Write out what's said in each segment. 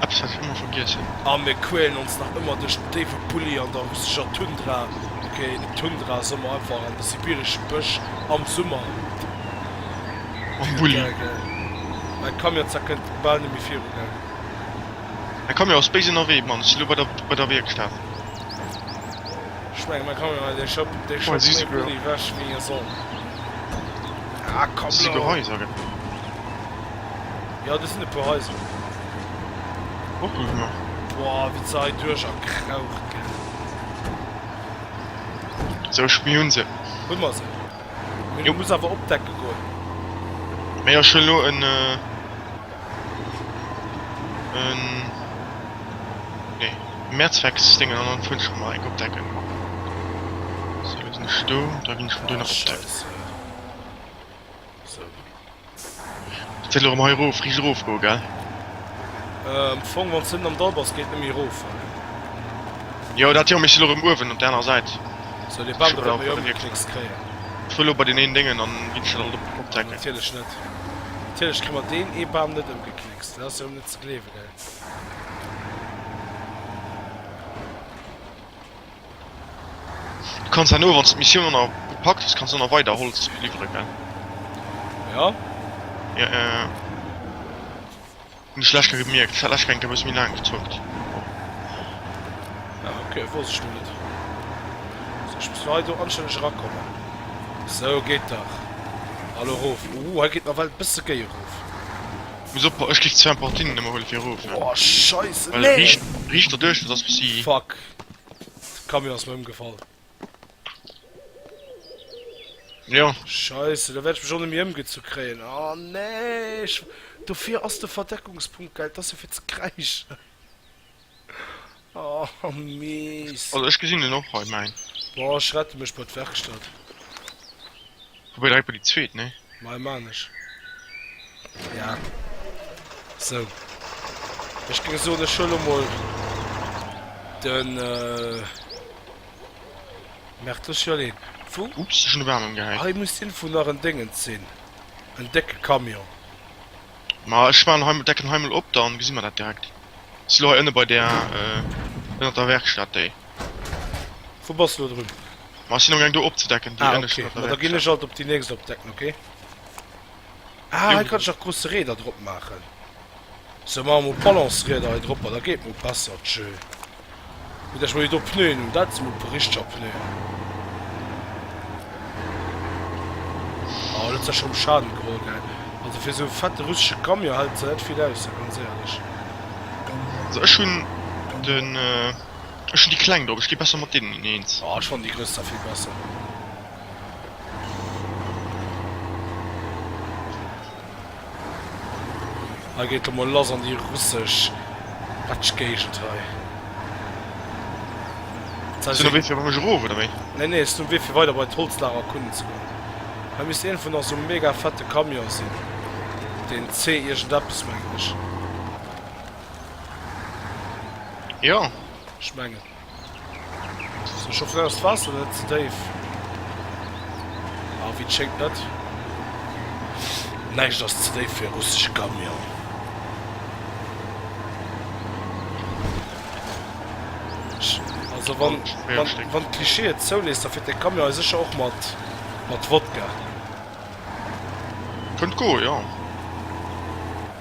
Eppes wat ech ëmmer vergiessen. A mir quälen ons nach ëmmer duerch den déiwe Bulli an der russeger Tundra, okay, net Tundra, Sommer, einfach an de sibireschen Bësch am Summer. Mam Bulli. Mäi Camion Zack kënnt bal net méi viru, gell? Mäi Camion ass béis ënnerwee, Mann. Ech si lo bei der, bei der Wierkstat. Ech mengen, mäi Camion hei, dee schëpp, dee schëpp méi Bulli ewech, wéi e soll. Ah, komm lo! Si souguer heiser, gell? Jo do sinn e puer Haiser. Kucken ech nach. Boah wéi se hei duerch a kraucht gin. Sou ech mir hun se. Hun mer se. Mee du muss awer opdecke goen. Mee jo ech hun lo en en nee Mehrzwecksdingen an dann fun ech mer eng opdecken. Sou lo sinn ech do da gin ech vun do nach opdecken. Scheiße. Ech wëll erëm hei erof, riicht erof goe gell? Am Fong wann se net am Dall bass geet net méi erof. Jo dat jo, mee ech sinn erëm uewen op der anerer Säit. Sou dee Bam do wäert mer jo ëmgeknéckst kréien. Ech wëll elo bei deen een Déngen an ginn ech dann alt op d'Decken. Natierlech net. Natierlech kréie mer deen ee Bam net ëmgeknéckst, dat ass jo erëm net ze gleewen ey. Du kanns herno wanns d'Missioun aner gepackt hues kanns aner weider Holz liwweren gell? Ja. Ja ja ja. Hunn ech lech gemierkt dat lech enke bëss méi laang gezockt. Ah, okay, wosst ech net. So, ich muss mal do anständig rakommen. So geht dach. Hallo rof. Uh, er geht nach weit bis gay rof. Muss op ech gif 2 Portinen ëmmer hole fir rof. Oh, scheiße. Nee. Riicht der duerch, dat ass bis si. Fuck. Camion ass mer ëmgefall. Jo. Scheisse, da wäert ech mech och net méi ëmgezu kréien. Oh nee! Dofir ass de Verdeckungspunkt geil, et ass jo fir ze kräischen. Oh Mist. Also ech gesinn en och hei, mäin. Bon, ech rette mech bei d'Werkstatt. Hu mer direkt mol déi zweet, nee? Mei man ech ja sou. Ech géing soen ech huele mol de Mertlech jo nee wou? Ups ech hun de Baam emgehäit. Hei muss den vun nach en Déngens sinn, en décke Camion. Ma ech man hei decken hei mol op dann gesi mer dat direkt. Si lo hei ënne bei där ënnert der Werkstatt déi. Wou bass lo drun? Ma ech sinn am gaang do opzedecken déi Ah ënneschten okay, ma da ginn ech alt op déi nächst opdecken, ok? Ah hei kann ech nach grousse Reeder drop maachen. Sou maache mol Balancerieder hei dropper, da geet mol besser tjö. Gutt dat ech mol déi do Pneuen hunn, dat si mol e puer richteger Pneuen. Oh dat ass der scho um Schaden geholl gell. Also fir sou e fette russesche Camion hält se net vill aus, da ganz éierlech. Also ech hunn den. Ech hun déi kleng drop, ech gi besser mat deenen ineens. Oh ech fannen déi gröss da vill besser. Hei geet der mol lass an déi russesch Batschgéigend hei. Ass do no Wee fir bei mech erof oder wéi? Nee nee, ass do Wee fir weider bei d'Holzlager erkunden ze goen. Hei misst een vun esou mega fette Camion sinn, den C iergendeppes mengen ech. Jo, ech mengen. Ech hoffen awer ass d'Waasser net ze déif. Ah wéi et schéngt net. Näischt ass ze déif fir e russesche Camion. Also wann wann d'Cliché et zouléisst da fiert de Camion hei sécher och mat mat Wodka. Kënnt goe jo.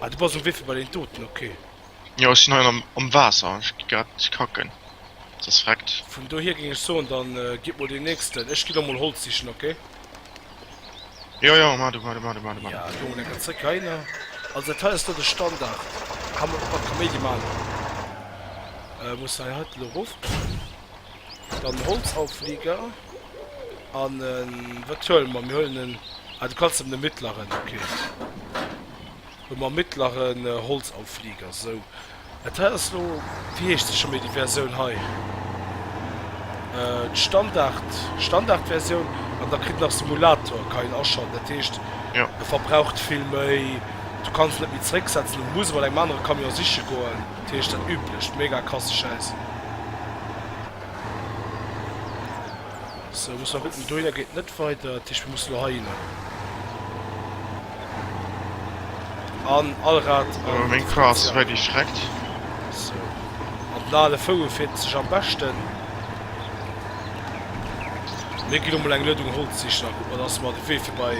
Ah, du bass um Wee fir bei den Toten, okay. Jo, ech sinn hei am, am Waasser, ech gi grad kacken. Ass das freckt. Vun dohier géing ech soen, dann äh, gitt mol den nächsten. Ech gi lo mol Holz sichen, okay? Jo, jo, mar du, mar du, mar du, mar du, mar du. Ja, Jongen, enker zréck heihinner. Also dat hei ass do de Standard. Kann man och mat Kaméidi man. Äh, muss hei, hei lo rof. Dann Holzauflieger an wat huelen mer? Mir huelen en, ah du kanns em de mittleren, ok. Hu mer mittleren Holzauflieger, sou. Dat hei ass lo, wéi heescht se scho méi déi Versioun hei? D'Standard, Standardversioun an da kritt nach Simulator, ka een aschalten. Dat heescht, e verbraucht vill méi, du kanns en net méi zrécksetzen, du muss mat engem anere Camion siche goen. Dat heescht dat üblecht, mega krasse Schäiss. Sou, muss mer kucken, dohinner geet net weider, dat heescht mir musse lo heihinner. An Allrad an. Oh meng Klass wäert erschreckt. Sou, an den ale Foue feelt sech am beschten. Mir ginn emol eng Luedung Holz sichen a kucken, dass mer de Wee fir bei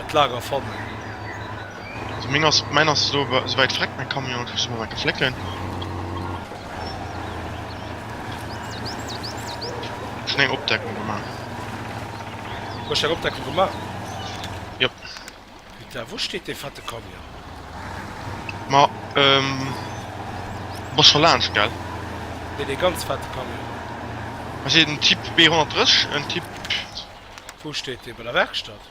d'Lager fannen. So meng ass mäin ass elo awer esou wäit vreckt mäin Camion dat muss ech mol enke flécken schon eng Opdeckung gemaach. Du hues eng Opdeckung gemaach? Jop. Putain wou steet dee fette Camion? Ma ehm du bass scho laanscht gell? Nee dee ganz fette Camion. Ass et en Typ B 130 en Typ? Wou steet dee? Bei der Werkstatt?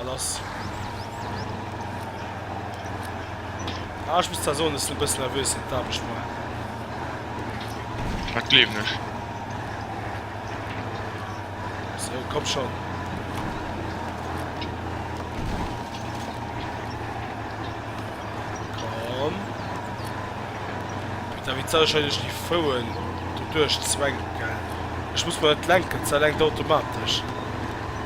An ass. Ah, ech muss zwar soen, dass ech e bëssen nervös sinn, d'Aarbecht moien. Dat gleewen ech. Sou, komm schonn. Komm. Da wéi soll ech hei duerch déi Fouen do duerchzwänken? Ech muss mer et lenken, se lenkt automatesch.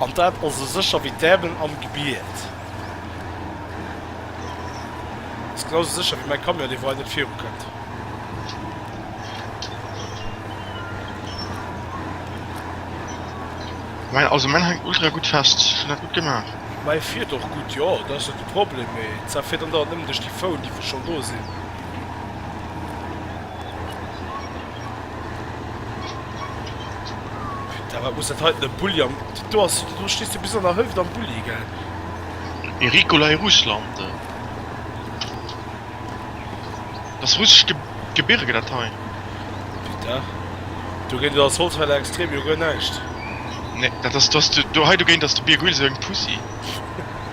An dat ass esou sécher wéi d'Äermel am Gebiet. Ass genau esou sécher wéi mäi Camion, dee wou hei net viru kënnt. Mäin, also mäin hänkt ultra gutt fest. Ech hunn dat gutt gemaach. Mäi fiert och gutt, jo, dat ass net de Problem. Mee d'Saf fiert andauernd nëmmen duerch déi Fouen, déi wou schonn do sinn. Putain, wat muss dat heiten e Bulli am. Do ass, do stees de bis an der Hëlleft am Bulli, gell? Ee Ricola e Russland. Ass russesch Ge Gebirge dat hei? Putain. Do géint ass Holzfäller extrem jo guer näischt. Nee, dat ass, do ass de, do hei dogéint ass de Bierg Uelzecht Pussy.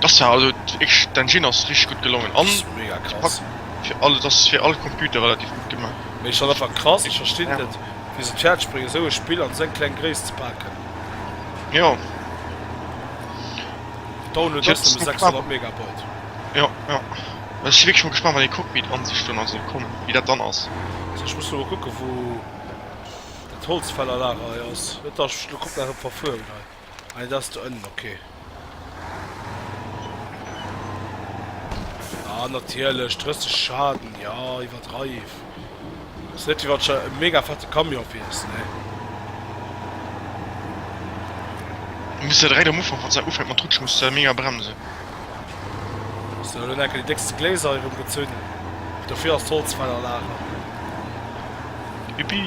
Das war also ich den Gin ass richtig gut gelongen an mega krass fir alle das fir all Computer relativ gut gemacht. Mee schon einfach krass ich verstinn ja. net wie se d'Fährt springen sou e Spill an seng kleng Gréisst ze paken. Ja Download ass nëmme 600 Megabyte. Ja ja ech si wierklech mol gespannt wann ee Cockpit an sech dann also kommen wie dat dann ass. Also ech muss lo kucke wou dat Holzfällerlager hei ass net dass ech lo komplett verfuer ginn hei. Ah, dat ass do ënnen, ok. Ah, natierlech, 30 Schaden, jo, iwwerdreif. Ass net wéi wann scho e mega fette Camion wiers, ne? Du muss jo direkt am Ufank, wann se ufänkt mat rutschen, muss se mega bremsen. So, elo hunn enke déi déckste Gléiser erëm gezunn. Dofir ass d'Holz weider lager. Yippie!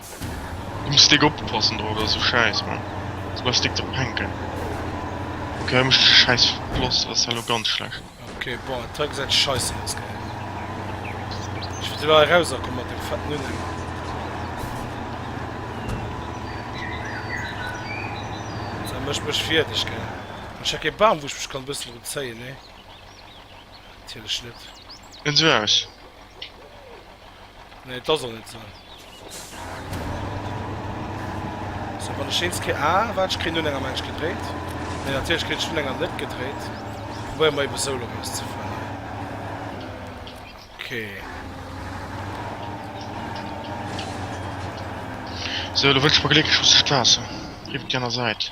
Muss dick oppassen dra oder sou scheiss man se bleiws dick ze penken ok hei mecht ech e scheiss floss ass hei lo ganz schlecht. Ok boah et hei gesäit scheissen aus geil ech wëll lo hei raus akomm mat dem fetten unhänger. Sou mecht mech fierdeg geil an ech hätt kee baam wou ech mech kann bëssen drun zéien nee natierlech net. Sou aus. Nee da soll et sinn. Sou wann ech eens kritt, ah wat ech kritt un enger Mensch gedréit, mee natierlech kritt ech vun enger net gedréit, probéiere mer ebe sou lo raus ze fannen, ok. Sou lo wëll ech mol glécklech russecht Waasser iwwert di aner Säit.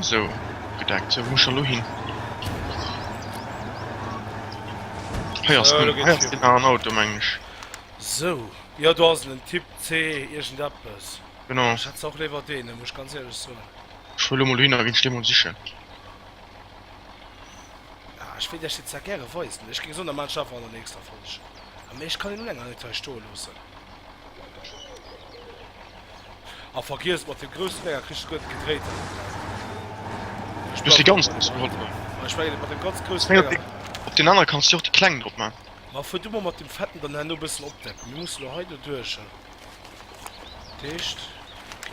Sou, gedeckt. Sou, wou muss ech elo hin? Hei ass en, hei ass nach en Auto, mengen ech. Sou, jo, do ass en, den Typ C iergendeppes. Genau. Ech hätt se och léiwer deenen, muss ech ganz éierlech soen. Ech fuer elo mol dohinner a ginn d'Stee mol sichen. Ah, ech wéilt iech déi zwar gäre weisen. Ech géing soen, da maachen ech einfach an der nächster Folg. Ah, mee ech kann een elo länger net hei stoe loossen. A vergiess mat den groussen Dénger kriss de guer net gedréit. Ech muss déi ganz grouss geholl hunn. An ech mengen mat den ganz groussen Dénger. Op den anere kanns de jo och déi kleng drop man. Ma fuer du mol mat dem fetten dann herno e bëssen opdecken. Mir musse lo hei doduercher. Dat heescht. Ok.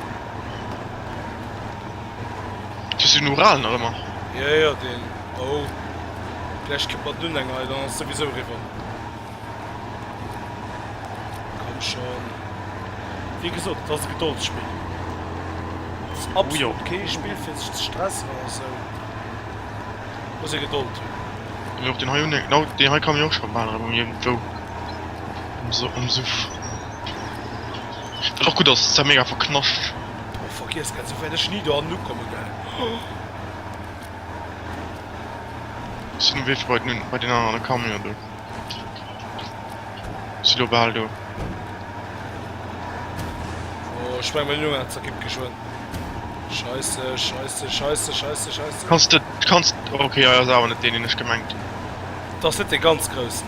Just den Ural nach ëmmer? Jo, jo, deen. Oh, gläich kënnt mer dunn eng hei, dann ass souwisou eriwwer. Komm schonn. Wéi gesot, et ass e Gedoldsspill. Et ass absolut kee Spill fir sech ze stressen oder esou. Et muss ee Gedold hunn. Jo, och deen hei hunn ech, genau deen hei kamen ech och schonn bal erëm iergendwou um Suff. Wat och gudd ass, se mega verknascht. Mee vergiess net, sou wärt ech ni do hannen ukomme gell. Ech sin um Wee fir bei den bei den aner an de Camion do. Si lo bal do. Oh ech meng mein Jungen zerkippt geschwënn. Scheisse scheisse scheisse scheisse scheisse. Kanns de kanns, ok ass awer net deen deen ech gemengt hun. Dass net dee ganz groussen.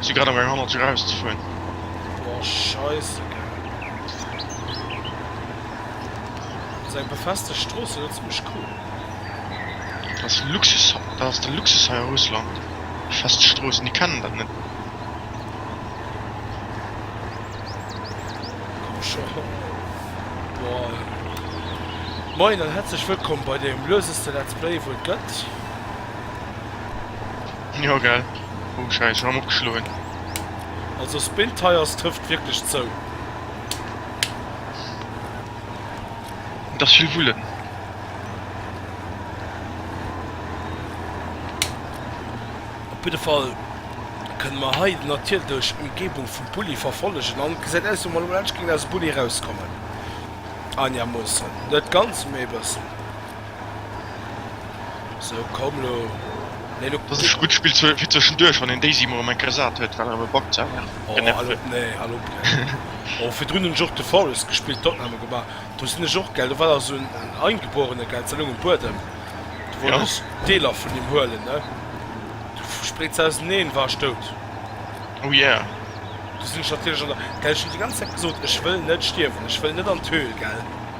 Si grad am gang hannert hier eraus ze fueren. Boah scheissegal. Ass eng befestegt Strooss zu Lëtzebuerg cool? Dat ass Luxus, dat ass de Luxus hei a Russland, befestegt Stroossen, déi kennen dat net. Komm scho. Boah. Moin an herzlech wëllkomm bei dem löseste Let's Play wou et gëtt. Jo gell, oh scheiss, Raum opgeschloen. Also Spilltires trëfft wierklech zou. Et ass vill Vullen. Op jidde Fall kënne mer hei den Attier duerch d'Ëmgebung vum Bulli verfollegen an et gesäit aus wéi mer elo laanscht géingen aus dem Bulli erauskommen. Einigermoossen, net ganz, mee e bëssen. So komm lo. Nee, lo Dat ass e gutt Spill fir zwëschenduerch, wann een Daisy mol am enker sat huet, well awer backt se awer. Oh, al op, nee, al op. Oh, virdrun hunn ech och de Forest gespillt, Tottenham elo gemaach. Do sinn ech och, gell, do war da sou en Eingeborene, gell, ze laang um Buedem. Du wollt ech Deeler vun him huelen, ne? Du spréits se auseneen, war ech dout. Oh yeah. Du sinn ech natierlech an der, gell, ech hunn déi ganz Zäit gesot, ech wëll net stierwen, ech wëll net an d'Höhl, gell.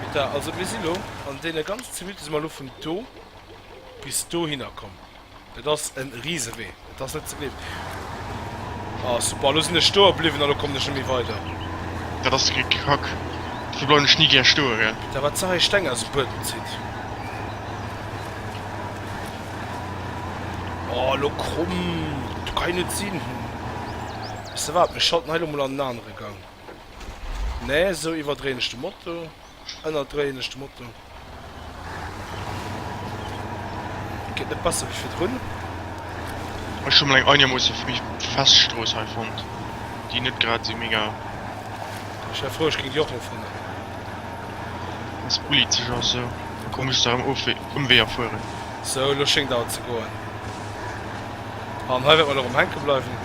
Peter, also mir sinn elo an deene ganzen 10 Minutte si mer elo vun do bis dohinner komm. Dat ass e Risewee, dat ass net ze gleewen. Ah super, elo sinn ech stoe bliwwen an elo kommen ech net méi weider. Dat ass de Kack. Dofir bleiwen ech ni gär stoe, gell. Peter, wat sou hei Steng aus dem Buedem zitt. Oh, elo komm, dat kann jo net sinn. Ça va, mir schalten hei lo mol an den anere Gang. Nee, esou iwwerdréien ech de Moto, ënnerdréien ech de Moto. Geet net besser wéi virdrun. Ech hu mol eng einigermoosse fest Strooss hei fonnt, déi net grad esou mega. Ech wär frou, ech géing déi och elo fannen. Ass ulitzeg, ass esou. Komm, ech muss nach erëm Ëmweeër fueren. Sou, elo schéngt awer ze goen. An hei wäert mer erëm hänke bleiwen.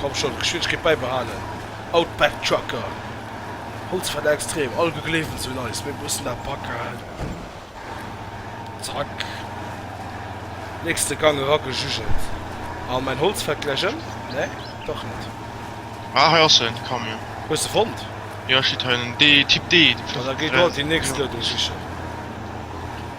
Komm schonn, Geschwindegkeet bäibehalen. Outback Trucker. Holzfäller extrem. All gegleewent sou nice. Mir mussen dat packen. Zack. Nächste Gang eragejujelt. An mäin Holz fält gläich ëm. Nee, dach net. Ah, hei ass en, de Camion. Hues e fonnt? Jo, e steet hei. Dee Typ D. Ah, da geh do déi nächst Loading sichen.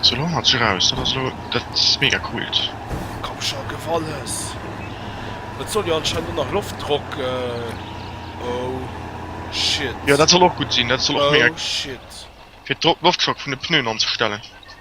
Sou lo mat sech raus, dat ass lo dat mega coolt. Komm scho, gëff alles! Et soll jo anscheinend och nach Loftdrock, oh shit. Jo dat soll och gutt sinn, dat soll och mega. Oh shit. Fir d'Loftdrock vun de Pneuen anzestellen.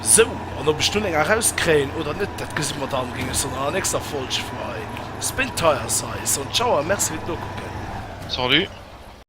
Sou, an ob ech dunn eng erauskréien oder net, dat gesi mer dann, géing ech se an enger nächster Folg freeën. Spin Tire Size an Tschauer, Merci fir d'Nokucken. Salut.